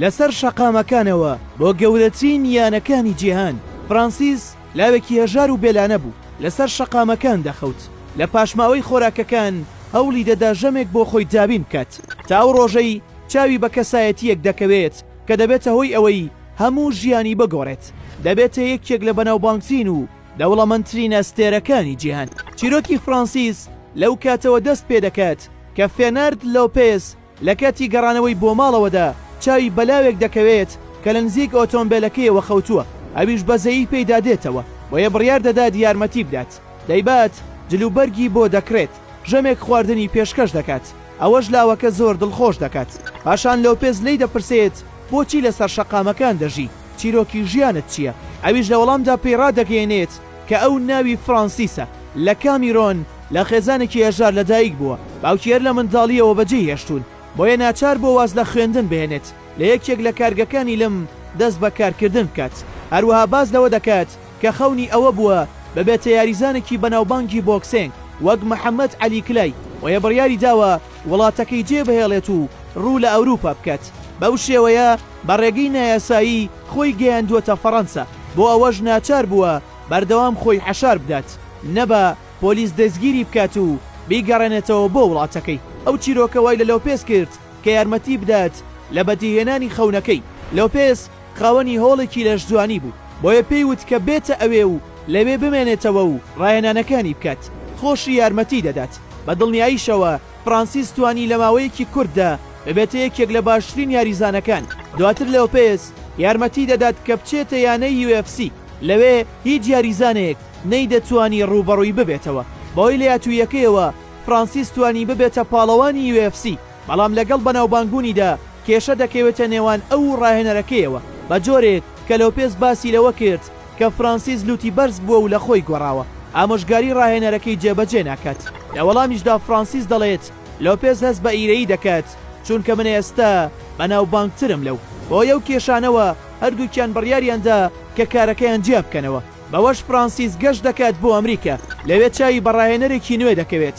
لەسەر شەقامەکانەوە بۆ گەورەترین یانەکانی جیهان، فرانسیس لاوێکی هەژار و بێلانە بوو، لەسەر شەقامەکان دەخەوت، لە پاشماوەی خۆراکەکان هەوڵی دەدا ژەمێک بۆ خۆی دابین بکات، تا ئەو ڕۆژەی چاوی بە کەسایەتییەک دەکەوێت کە دەبێتە هۆی ئەوەی هەموو ژیانی بگۆڕێت، دەبێتە یەکێک لە بەناوبانگترین و دەوڵەمەندترین ئەستێرەکانی جیهان. چیرۆکی فرانسیس لەو کاتەوە دەست پێدەکات کە فێنەرد لۆپێز، لەکاتی گەڕانەوەی بۆ ماڵەوەدا چاوی بەلاوێک دەکەوێت کە لە نزیک ئۆتۆمبێلەکەیەوە خەوتووە ئەویش بەزەیی پێیدا دێتەوە بۆیە بڕیار دەدات یارمەتی بدات دەیبات جل و بەرگی بۆ دەکڕێت ژەمێک خواردنی پێشکەش دەکات ئەوەش لاوەکە زۆر دڵخۆش دەکات پاشان لۆپێز لێی دەپرسێت بۆچی لەسەر شەقامەکان دەژی چیرۆکی ژیانت چییە ئەویش لە وەڵامدا پێی ڕادەگەیەنێت کە ئەو ناوی فرانسیسە، لە کامیرۆن، لە خێزانێکی هەژار لەدایک بووە، باوکی هەر لە منداڵییەوە بەجێی هێشتوون، بۆیە ناچار بووە واز لە خوێندن بهێنێت، لە یەکێک لە کارگەکانی لم دەست بە کارکردن بکات، هەروەها باس لەوە دەکات کە خەونی ئەوە بووە ببێتە یاریزانێکی بەناوبانگی بۆکسێنگ وەک محەمەد عەلی کلای، بۆیە بڕیاریداوە وڵاتەکەی جێبهێڵێت و ڕوو لە ئەوروپا بکات، بەو شێوەیە بە ڕێگەی نایاسایی خۆی گەیاندووەتە فەڕەنسا، بۆ ئەوەش ناچار بووە بەردەوام خۆی حەشار بدات، نەبا پۆلیس دەستگیری بکات و بیگەڕێنێتەوە بۆ وڵاتەکەی، ئەو چیرۆکە وای لە لۆپێز کرد کە یارمەتی بدات لە بەدیهێنانی خەونەکەی، لۆپێز خاوەنی هۆڵێکی لەشجوانی بوو، بۆیە پێی وت کە بێتە ئەوێ و لەوێ بمێنێتەوە و ڕاهێنانەکانی بکات، خۆشی یارمەتیی دەدات. بە دڵنیاییشەوە فرانسیس توانی لە ماوەیەکی کورتدا ببێتە یەکێک لە باشترین یاریزانەکان، دواتر لۆپێز یارمەتیی دەدات کە بچێتە یانەی یو ئێف سی، لەوێ هیچ یاریزانێک نەیدەتوانی ڕووبەڕووی ببێتەوە، بەهۆی لەیاتووییەکەیەوە فرانسیس توانی ببێتە پاڵەوانی یو ئێف سی. بەڵام لەگەڵ بەناوبانگبوونیدا کێشە دەکەوێتە نێوان ئەو و ڕاهێنەرەکەیەوە، بەجۆرێک کە لۆپێز باسی لەوە کرد کە فرانسیس لووتی بەرز بووە و لە خۆی گۆڕاوە، ئامۆژگاری ڕاهێنەرەکەی جێبەجێ ناکات. لە وەڵامیشدا فرانسیس دەڵێت، لۆپێز هەست بە ئیرەیی دەکات، چونکە من ئێستا بەناوبانگترم لەو. بەهۆی ئەو کێشانەوە هەردووکیان بڕیاریان دا کە کارەکەیان جیا بکەنەوە. بەوەش فرانسیس گەشت دەکات بۆ ئەمریکا، لەوێ چاوی بە ڕاهێنەرێکی نوێ دەکەوێت.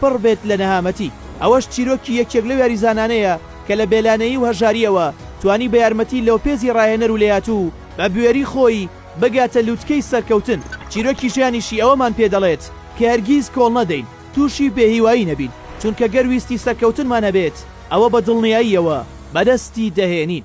پڕ بێت لە نەهامەتی، ئەوەش چیرۆکی یەکێک لەو یاریزانانەیە کە لە بێلانەیی و هەژارییەوە توانی بە یارمەتی لۆپێزی ڕاهێنەر و لێهاتوو بە بوێری خۆی بگاتە لوتکەی سەرکەوتن، چیرۆکی ژیانیشی ئەوەمان پێ دەڵێت کە هەرگیز کۆڵ نەدەین تووشی بێهیوایی نەبین، چونکە گەر ویستی سەرکەوتنمان هەبێت ئەوە بە دڵنیاییەوە بەدەستی دەهێنین.